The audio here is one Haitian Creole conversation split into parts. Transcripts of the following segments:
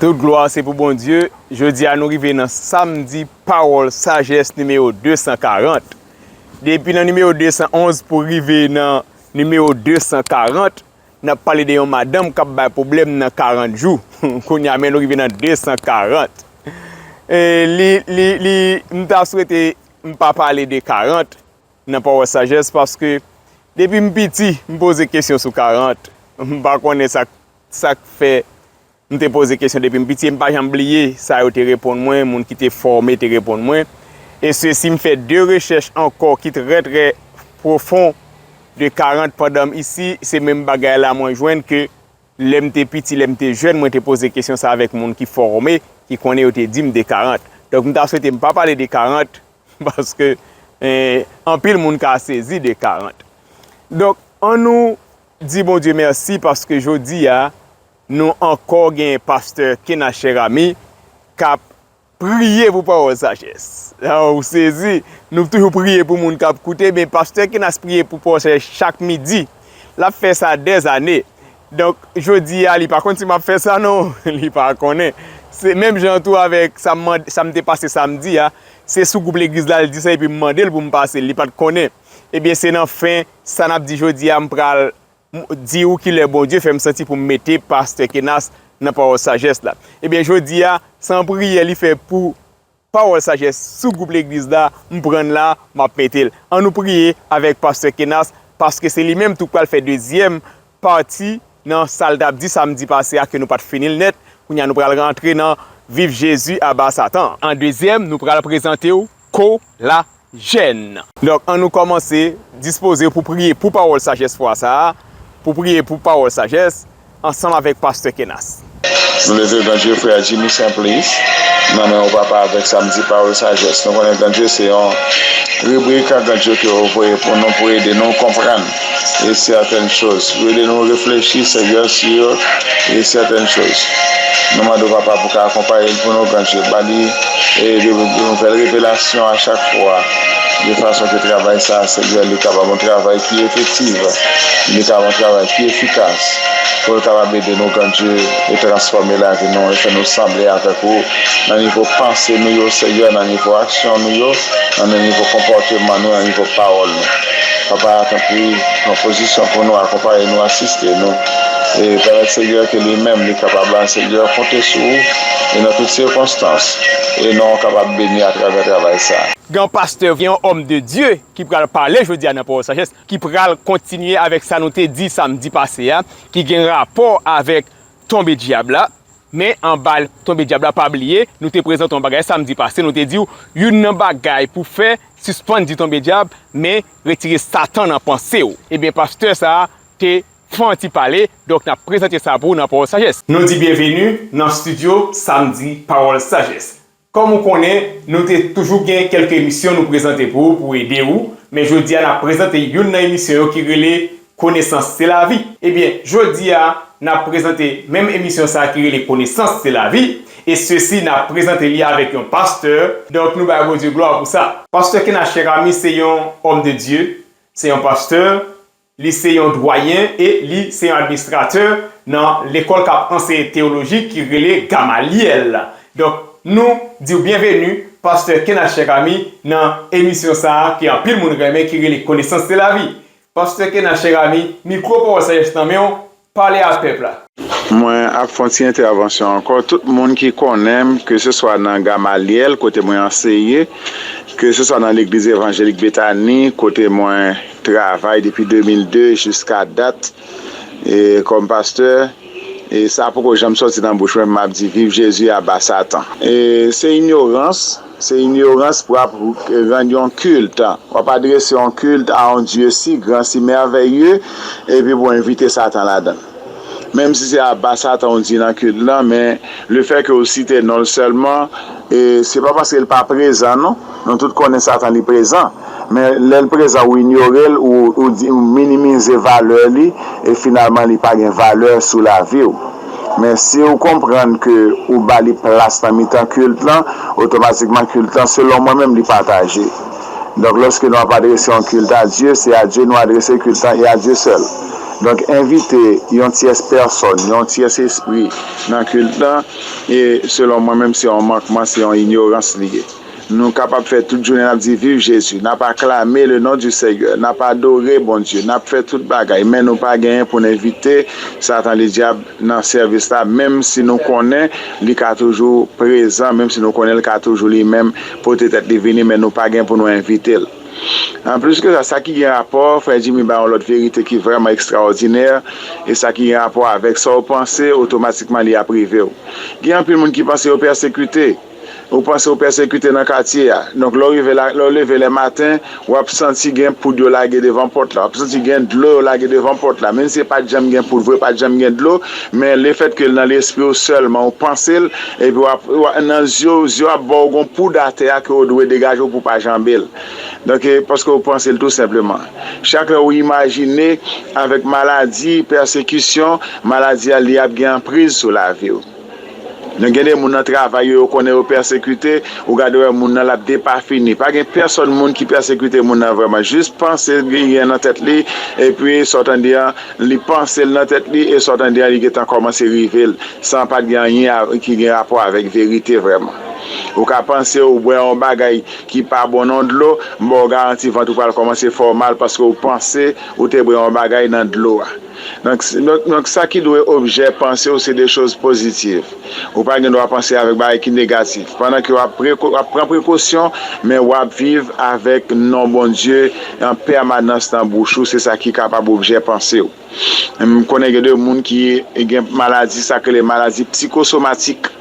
Tout glwa se pou Bondye, jodi a nou rive nan samdi pawòl sajès nimewo 240. Depi nan nimewo 211 pou rive nan nimewo 240, n ap pale de yon madanm k ap bay pwoblèm nan 40 jou. Kounye a men nou rive nan 240. M ta swete m pa pale de 40 nan pawòl sajès paske depi m piti m poze kesyon sou 40. M pa konnen sa k fè M te poze kesyon depi m piti e m pa janm bliye sa yo te reponn mwen, moun ki te fòme te reponn mwen. E sesi m fè 2 rechèch ankò ki trè trè pwofon de 40 pandan m isi, se menm bagay la mwen jwenn ke lè m te piti, lè m te jèn mwen te poze kesyon sa avèk moun ki fòme, ki konnen yo te di m de 40. Donk m ta swete m pa pale de 40 paske anpil moun ka sezi de 40. Donk an nou di Bondye mèsi paske jodi a, Nou ankò gen pastè Kena Cheramy kap priye pou pawòl sajès ou sezi nou toujou priye pou moun kap koute men pastè Kenas priye pou pawòl sajès chak midi lap fè sa dè zane donk jodi a li pa konn si map fè sa non li pa konnen se menm jan tou avèk sa mande sa m te pase samdi a se sou gwoup legliz la l di sa epi m mande l pou m pase li pat konnen ebyen se nan fen sa nap di jodi a m pral. M di ou kilè Bondye fè m santi pou m mete Pastè Kenas nan pawòl sajès la. Ebyen jodi a, se yon priyè li fè pou pawòl sajès sou gwoup legliz la, m pran l la, m ap mete l. An nou priye avèk Pastè Kenas, paske se li menm tou k pral fè dezyèm pati nan sa l t ap di samdi pase a ke nou pa t fini l nèt. Kounye a nou pral rantre nan Viv Jezi, Aba Satan! An dezyèm, nou pral prezante ou Ko La jèn. Donk, annou kòmanse dispoze pou priye pou pawòl sajès fwa sa a, pou priye pou pawòl sajès, ansanm avèk Pastè Kenas. Nou leve gran dye frè Jimmy Simplice nan men ou papa avèk samdi pawòl sajès. Nou konnen gran dye se yon ribrik gran dye ke ou voye pou nou pou ede nou konprann e sètèn choz. Yo ede nou reflechi sèyè sou yo e sètèn choz. Nou mande w, Papa, pou w ka akonpaye l pou nou kan je, ba li de nouvèl revelasyon a chak fwa, de fason ke travay sa a, Sèyè, li kapab yon travay ki efektiv, li kapab yon travay ki efikas, pou l kapab ede nou kan je, e transfòme lavi nou, e fè nou sanble avèk ou, nan nivo panse nou yo, Sèyè, nan nivo aksyon nou yo, nan nivo konpòteman nou, nan nivo pawòl nou. Papa a tanpri pran pozisyon pou nou akonpaye nou asiste nou e pèmèt Senyè ke li menm li kapab la Senyè konte sou ou e nan tout sikonstans e non w kapab beni atravè travay sa. Gen yon pastè, gen yon òm de Dye ki pral pale jodi a nan pawòl sajès ki pral kontinye avèk sa nou te di samdi pase a ki gen rapò avèk tonbe dyab la men anba tonbe dyab la pa bliye nou te prezante yon bagay samdi pase nou te di w youn nan bagay pou fè Sispann di tonbe dyab men retire satan nan panse w. Ebyen pastè sa te fon an ti pale donk nap prezante sa pou w nan pawòl sajès. Nou di byenveni nan studio samdi pawòl sajès. Kòm ou konnen nou te toujou gen kèlke emisyon nou prezante pou w pou ede w men jodi a nap prezante youn nan emisyon yo ki rele Konesans se lavi. Ebyen, jodi a, n ap prezante menm emisyon sa ki rele Konesans se lavi, e sesi n ap prezante li avèk yon pastè, donk nou bay Bondye glwa pou sa. Pastè Kena Cheramy se yon òm de Dye, se yon pastè, li se yon dwayen e li se yon administratè nan lekòl k ap anseye teyoloji ki rele Gamalyèl. Donk, nou di w byenveni, pastè Kena Cheramy, nan emisyon sa ki anpil moun renmen ki rele Konesans se lavi. Pasteur Kena cher ami, micro paw sa yes nan menw, pale ak pèp la. Mwen ap fon ti entèvansyon ankò, tout moun ki konnenm ke se swa nan Gamalyèl kote mwen anseye, ke se swa nan legliz evanjelik Betani kote mwen travay depi 2002 jiska dat kòm pastè e sa poko janm sòti nan bouch mwen pou map di viv Jezi aba satan e se inyorans. Se inyorans pou ap rann yon kilt, pou ap adrese yon kilt a yon Dye si gran, si mèvèye, epi pou envite Satan ladan l. Menm si se aba Satan ou di nan kilt lan, men lefèke ou site non l sèlman, se pa paske l pa prezan non, nou tout konnen Satan li prezan, men lè l prezan ou inyore l, ou minimize valè li, e finalman li pa gen valè sou lavi ou. Men si ou konprann ke ou ba li plas nan mitan kilt lan, otomatikman kilt lan, selon mwen menm, li pataje. Donk lòske nou ap adrese yon kilt a Dye, se a Dye nou adrese kilt lan e a Dye sèl. Donk envite yon tyès pèsòn, yon tyès espri nan kilt lan, e selon mwen menm se yon mankman, se yon inyorans li ye. Nou kapab fè tout jounen nap di viv Jezi, nap aklame le non di Senyè, nap adore Bondye, nap fè tout bagay men nou pa genyen pou n envite satan le dyab nan sèvis la menm si nou konnen li ka toujou prezan, menm si nou konnen l ka toujou li menm pote tèt li vini men nou pa gen pou nou envite l. Anplis ke sa, sa ki gen rapò, frè Jimmy bay yon lòt verite ki vrèman ekstraòdinè e sa ki gen rapò avèk sa w panse otomatikman li ap rive w. Gen anpil moun ki panse yo pèsekite. Ou panse ou pèsekite nan katye a. Donk lè w rive la, lè w leve lè maten, w ap santi gen poud yo lage devan pòt la. W ap santi gen dlo yo lage devan pòt la. Menmsi pa t janm gen poud vre, pa t janm gen dlo, men lefètke l nan lespri w sèlman, ou panse l, epi w ap, nan zye w, zye w ap ba w gon poud atè a ke w dwe degaje w pou w pa janbe l. Donk e, paske ou panse l tou senpleman. Chak lè ou imajine avèk maladi, pèsekisyon, maladi a li ap gen anpriz sou lavi w. Nou gen de moun nan travay yo, yo konnen yo pèsekite, ou gade wè moun nan lap depafini. Pa gen pèsòn moun ki pèsekite moun nan vrèman. Jis panse li genyen nan tèt li, epi sa w tande an, li panse l nan tèt li, e sa w tande an li gentan kòmanse rive l, san pat gen anyen ki gen rapò avèk verite vrèman. Ou ka panse ou bwè yon bagay ki pa bon nan yon dlo, m ba w garanti vant ou pral kòmanse fè w mal paske ou panse ou te bwè yon bagay nan dlo a. Donk sa ki dwe objè panse w se de choz pozitiv. Ou pa gen dwa panse avèk bagay ki negatif. Pandan ke w ap pran prekosyon, men w ap viv avèk non Bondye an pèmanans nan bouch ou, se sa ki kapab objè panse w. M konnen gen de moun ki gen maladi sa k rele maladi psikosomatik.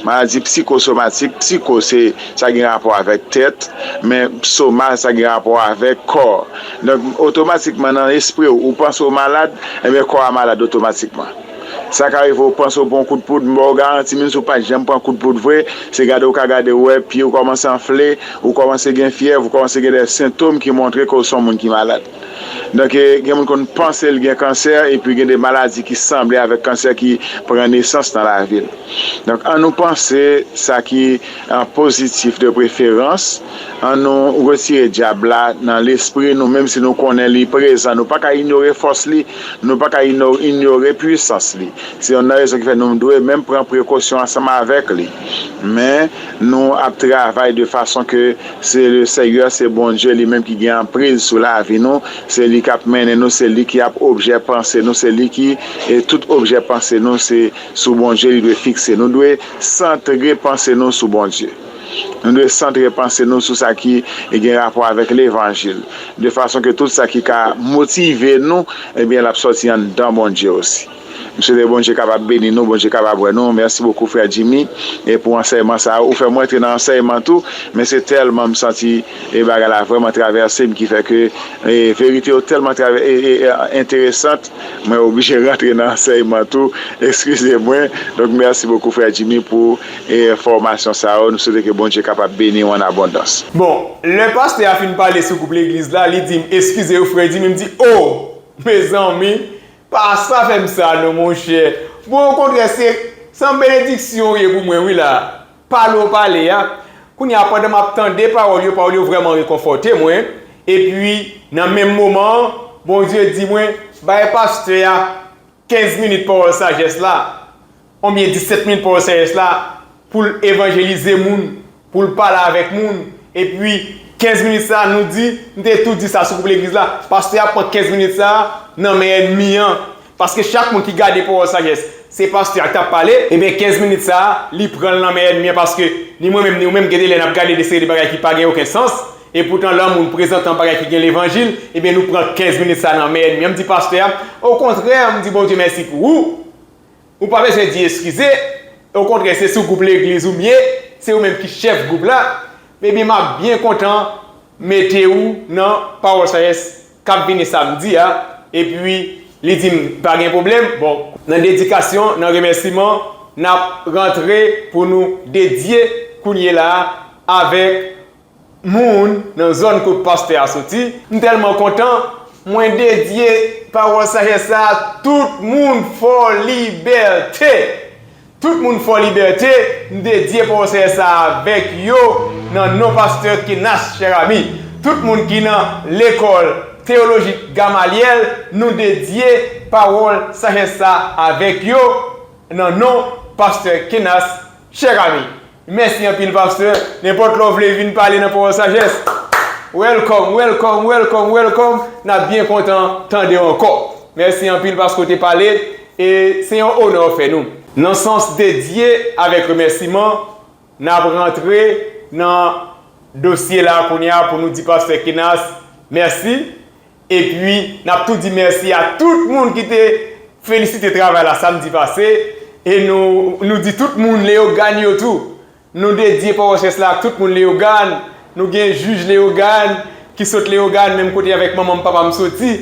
Maladi psikosomatik, psiko se sa gen rapò avèk tèt, men soma sa gen rapò avèk kò. Donk otomatikman nan espri w, ou panse w malad, enben kò a malad otomatikman. Sa ka rive ou panse ou pran yon kout poud, m ba w garanti menm si w pat janm pran kout poud vre, se gade ou ka gade ou wè pye w kòmanse anfle, ou kòmanse gen fyèv, ou kòmanse gen de sentom ki montre ke w son moun ki malad. Donk gen moun konn panse l gen kansè epi gen de maladi ki sanble avèk kansè ki pran nesans nan lavi l. Donk an nou panse sa ki pozitif de preferans, an nou retire dyab la nan lespri nou menm si nou konnen li prezan nou pa ka inyore fòs li, nou pa ka inyore pwisans li. Se yonn nan rezon ki fè nou dwe menm pran prekosyon ansanm avèk li. Men. Nou ap travay de fason ke se le Senyè, se Bondye li menm ki gen anpriz sou lavi nou, se li kap mennen nou, se li ki ap objè panse nou, se li ki tout objè panse nou se sou Bondye li dwe fikse. Nou dwe santre panse nou sou Bondye. Nou dwe santre panse nou sou sa ki gen rapò avèk levanjil, de fason ke tout sa ki ka motive nou, ebyen lap sòti anndan Bondye osi. M swete Bondye kapab beni nou, Bondye kapab wè nou. Mèsi bokou frè Jimmy e pou ansèyman sa ou fèm rantre nan ansèyman tou men se tèlman m santi e bagay la vrèman travèse m ki fè ke e verite yo tèlman travè e e enteresant mwen oblije rantre nan ansèyman tou eskize mwen donk mèsi bokou frè Jimmy pou e fòmasyon sa yo nou swete ke Bondye kapab beni ou an abondans. Bon lè pastè a fin pale sou gwoup legliz la li dim eskizew frè Jimmy m di oh mezanmi Pa sa fè m sa non monchè. Bon okontrè se se yon benediksyon ou ye pou mwen wi la. Pale ou pale a, kounye a pandan m ap tande pawòl yo, pawòl yo vrèman rekonfòte mwen, epi nan menm moman an Bondye di mwen, bay pastè a 15 minit pawòl sajès la. Onbyen 17 min paw CES la poul evanjelize moun, poul pale avèk moun, epi 15 minit sa nou di, m te tou di sa sou gwoup legliz la, pastè a pran 15 minit sa nan men ènmi an, paske chak moun ki gade pawòl sajès, se pastè a ki tap pale, ebyen 15 minit sa li pranl nan men ènmi an paske ni mwen menm ni ou menm gen de lè nap gade de seri de bagay ki pa gen oken sans, epoutan lè yon moun prezantan bagay ki gen levanjil, ebyen nou pran 15 minit sa nan men ènmi an, m di pastè a, okontrè m di Bondye mèsi pou ou, Ou pa bezwen di eskize, okontrè se sou gwoup legliz ou m ye, se ou menm ki chèf gwoup la, ebyen m ap byen kontan mete ou nan Pawòl Sajès k ap vini samdi a, epi li di m pa gen pwoblèm, bon, nan dedikasyon, nan remèsiman, n ap rantre pou nou dedye kounyela a avèk moun nan zòn kot pastè a soti. M tèlman kontan, mwen dedye pawòl sajès sa a tout moun Fòlibète! Tout moun Fòlibète, m dedye pawòl sajès sa a avèk yo nan non pastè Kenas Chèrami. Tout moun ki nan Lekòl Teyolojik Gamalyèl, nou dedye pawòl sajès sa a avèk yo nan non pastè Kenas Chèk ami, mèsi anpil pastè, nenpòt lè w vle vin pale nan pawòl sajès, welcome, welcome, welcome, welcome, n ap byen kontan tande w ankò. Mèsi anpil paske w te pale e se yon onè w fè nou. Nan sans dedye avèk remèsiman, n ap rantre nan dosye la kounye a pou nou di pastè Kinas mèsi Epi nap tou di mèsi a tout moun ki te felisite travay la samdi pase e nou di tout moun Leyogàn yo tou. Nou dedye Powòchès la ak tout moun Leyogàn. Nou gen jij Leyogàn ki sot Leyogàn menm kote avèk manman m papa m soti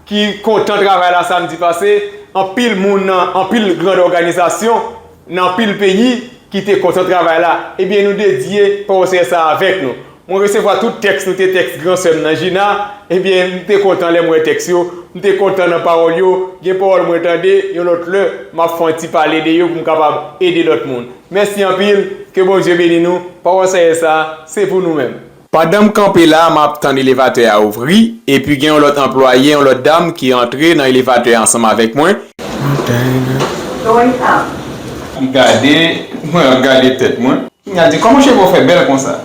ki kontan travay la samdi pase. Anpil moun nan anpil grand òganizasyon. Nan anpil peyi ki te kontan travay la, ebyen nou dedye konsè sa avèk nou. Mwen resevwa tout tèks nou te tèks gran sè m nan Gina, ebyen m te kontan lè m wè tèks yo, m te kontan nan pawòl yo, gen pawòl mwen tande, yon lòt lè m ap fè yon ti pale de yo pou m kapab ede lòt moun. Mèsi anpil, ke Bondye beni nou, pawòl Seyè sa se pou nou menm. Pandan m kanpe la, m ap tann elevatè a ouvri, epi gen yon lòt anplwaye, yon lòt dam, ki antre nan elevatè a ansanm avèk mwen. Li gade mwen, ap gade tèt mwen. Li di, Kòman cheve w fè bèl konsa?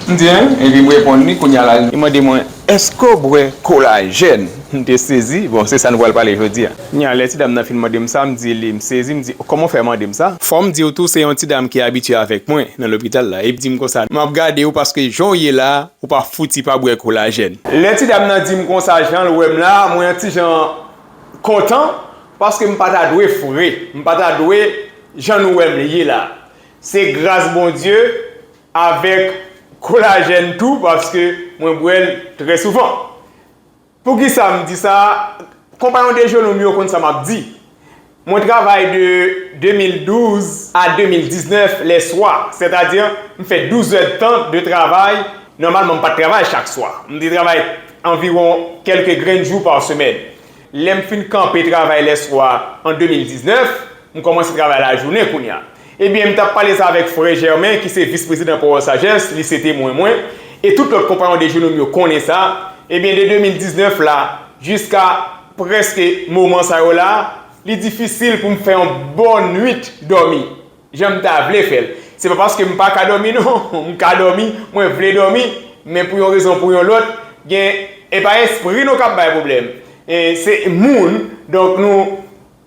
M di, Hein? Epi m reponn li, kounye a la li mande mwen. Eske w bwè kolajèn? M te sezi. Bon, se sa nou pral pale jodi a. Kounye a, lè ti dam nan fin mande m sa, m di li, m sezi, m di, kòman w fè mande m sa? Fò m di w tou, se yon ti dam ki abitye avèk mwen nan lopital la. E li di m konsa, M ap gade w paske jan w ye la a, ou pa fouti pa bwè kolajèn. Lè ti dam nan di m konsa, jan l wè m la a, mwen yon ti jan kontan paske m pa ta dwe fre. M pa ta dwe jan nou wè m ye la a. Se gras Bondye, Avèk kolajèn tou paske mwen bwè l trè souvan. Poukisa m di sa? Konpayon dejeuner m yo konn sa m ap di. Mwen travay de 2012 a 2019 lè swa, sètadi m fè 12 zèdtan de travay, nòmalman m pa t travay chak swa. M te travay anviwon kèlke grenn jou pa semèn. Lè m fin kanpe travay lèswa an 2019, m kòmanse travay lajounen kounye a. Ebyen, m t ap pale sa avèk frè Germain ki se vis-prezidan Power Sagesse, li se temwen mwen, e tout lòt konpayon dejounen m yo konnen sa, ebyen de 2019 la jiska prèske moman sa yo la, li difisil pou m fè yon bon nuit dòmi. jan m ta vle fè l. Se pa paske m pa ka dòmi non, m ka dòmi, mwen vle dòmi, men pou yon rezon pou yon lòt, gen, e pa espri nou k ap bay pwoblèm, e se moun, donk nou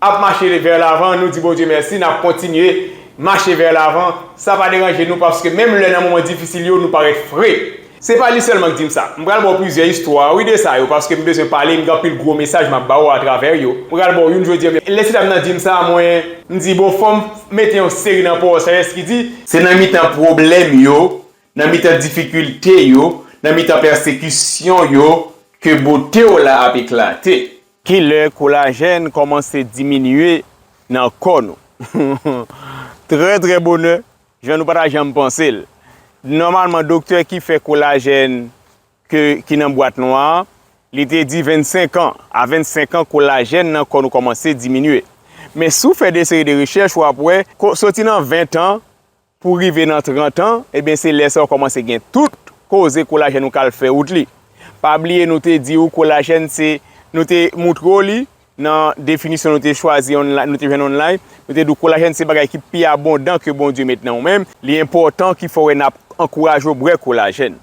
ap mache vè lavan, nou di Bondye mèsi, n ap kontinye mache vè lavan, sa pa deranje nou paske menm lè nan moman difisil yo nou parèt fre. Se pa li sèlman k di m sa. M pral ba w plizyè istwa wi de sa yo paske m bezwen pale, m gen anpil gwo mesaj m ap ba w atravè yo. M pral ba w youn jodi an men lè ti dam nan di m sa mwen. M di bon fò m mete yon seri nan po Sajes ki di. Se nan mitan pwoblèm yo, nan mitan difikilte yo, nan mitan pèsekisyon yo ke bote w la ap eklate. Ki lè kolajèn kòmanse diminye nan kò nou? Trè trè bonè Jan nou pa ta janm panse l. Nòmalman doktè ki fè kolajèn ke ki nan bwat nwa an, li te di 25 an, a 25 an kolajèn nan kò nou kòmanse diminye. Men si w fè de seri de rechèch w ap wè, soti nan 20 tan pou rive nan 30 tan, ebyen se lè sa w kòmanse gen tout koze kolajèn ou ka al fè wout li. Pa bliye nou te di w kolajèn se, nou te moutre w li, Nan definisyon nou te chwazi online, nou te jwenn online, nou te di w kolajèn se bagay ki pi abondan ke Bondye met nan ou men. Li enpòtan ki fè w wè n ap ankouraje w bwè kolajèn.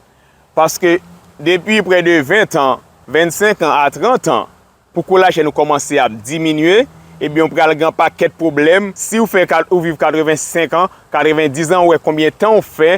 Paske depi prè de 20 tan, 25 an a 30 an, pou kolajèn ou kòmanse ap diminye, ebyen ou pral gen yon pakèt pwoblèm. Si w fè, ou viv 85 an, 90 an, ou wè konbyen tan w fè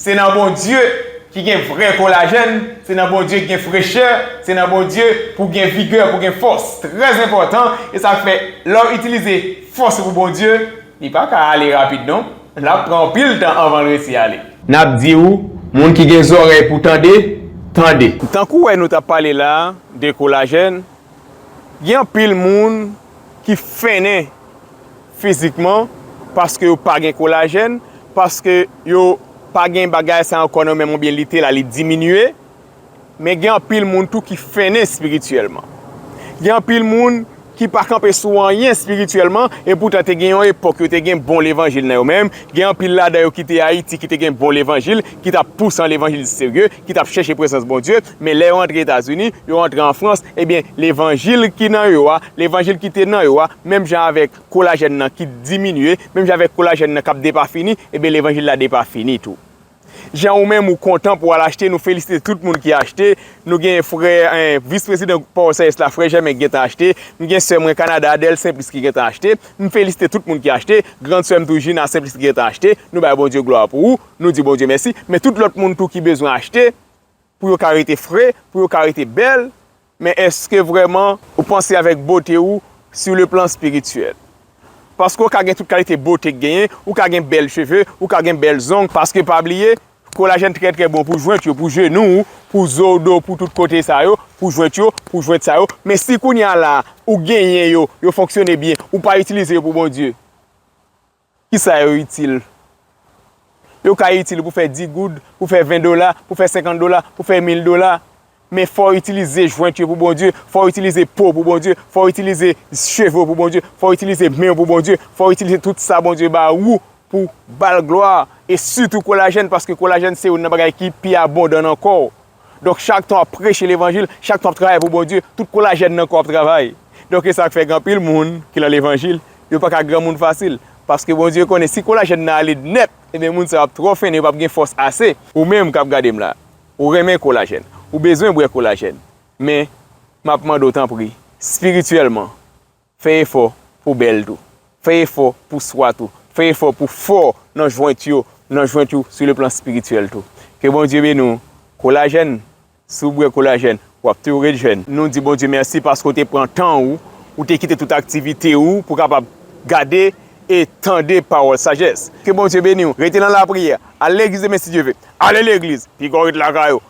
Se nan Bondye ki gen vrè kolajèn, se nan Bondye ki gen frechè, se nan Bondye pou gen vigè, pou gen fòs. Trè enpòtan, e sa fè lè w itilize fòs ou pou Bondye, li pa ka ale rapid non, l ap pran anpil tan anvan l resi ale. N ap di ou, moun ki gen zòrèy pou tande, tande. Tankou wè nou t ap pale la a de kolajèn, gen anpil moun ki fennen. fizikman, paske yo pa gen kolajèn, paske yo pa gen bagay sa ankò nan men yo oubyen lite la li diminye. Men gen anpil moun tou ki fennen espirityèlman. Gen anpil moun ki pa kanpe sou anyen espirityèlman, epoutan te gen yon epòk yo te gen bon levanjil nan yo menm. Gen anpil ladan yo ki te Ayiti ki te gen bon levanjil, ki t ap pou san levanjil serye. ki t ap chèche prezans Bondye, men lè yo antre Etazini, yo antre an Frans, ebyen, levanjil ki nan yo a, levanjil ki te nan yo a, menm jan avèk kolajèn nan ki diminye, menm jan avèk kolajèn nan k ap depafini, ebyen, levanjil la depafini tou. Jan ou menm ou kontan pou w al achte, nou felisite tout moun ki achte, nou gen frè, vis prezidan Port Saïs la, frè Jèmen ki gentan achte, nou gen sè mwen Kanada, Adèle Simplice ki gentan achte, m felisite tout moun ki achte, grand sè m tou Gina Simplice ki gentan achte, nou bay Bondye glwa pou ou. Nou di Bondye mèsi, men tout lòt moun tou ki bezwen achte pou yo ka rete fre, pou yo ka rete bèl, men èske vrèman ou panse avèk bote ou sou le plan espirityèl? Paske ou ka gen tout kalite bote k genyen, ou ka gen bèl cheve, ou ka gen bèl zong, paske pa bliye, kolajèn trè trè bon pou jwent yo, pou jenou ou, pou zo ou, do, pou tout kote sa yo, pou jwent yo, pou jwent sa yo, men si kounye a la ou genyen yo, yo fonksyone byen, ou pa itilize yo pou Bondye. Ki sa yo itil? Yo ka itil pou fè 10 goud, pou fè 20 dola, pou fè 50 dola, pou fè 1000 dola. Men fò w itilize jwent yo pou Bondye, fò w itilize po w pou Bondye, fò w itilize cheve w pou Bondye, fò w itilize men w pou Bondye, fò w itilize tout sa Bondye ba ou pou w ba l glwa, e sitou kolajèn paske kolajèn se youn nan bagay ki pi abondan nan kò w. Donk chak tan w ap preche levanjil, chak tan w ap travay pou Bondye, tout kolajèn nan kò w ap travay. Donk e sa k fè gen anpil moun ki nan levanjil, yo pa ka granmoun fasil. Paske Bondye konnen si kolajèn nan ale nèt, enben moun sa yo ap twò fennen, yo p ap gen fòs ase. Ou menm k ap gade m la, ou renmen kolajèn, ou bezwen bwè kolajèn, men m ap mande w tanpri, spirityèlman, Fè efò pou w bèl tou. Fè efò pou w swa tou. Fè efò pou w fò nan jwent yo, nan jwent ou sou le plan spirityèl tou. Ke Bondye beni w Kolajèn, si w bwè kolajèn, w ap toujou ret jèn. Nou di Bondye mèsi paske w te pran tan ou, ou te kite tout aktivite ou pou w kapab gade e tande pawòl sajès. Ke Bondye beni w. Rete nan lapriyè. Al legliz demen si Dye ve. Ale legliz. Pi gò ret lakay ou.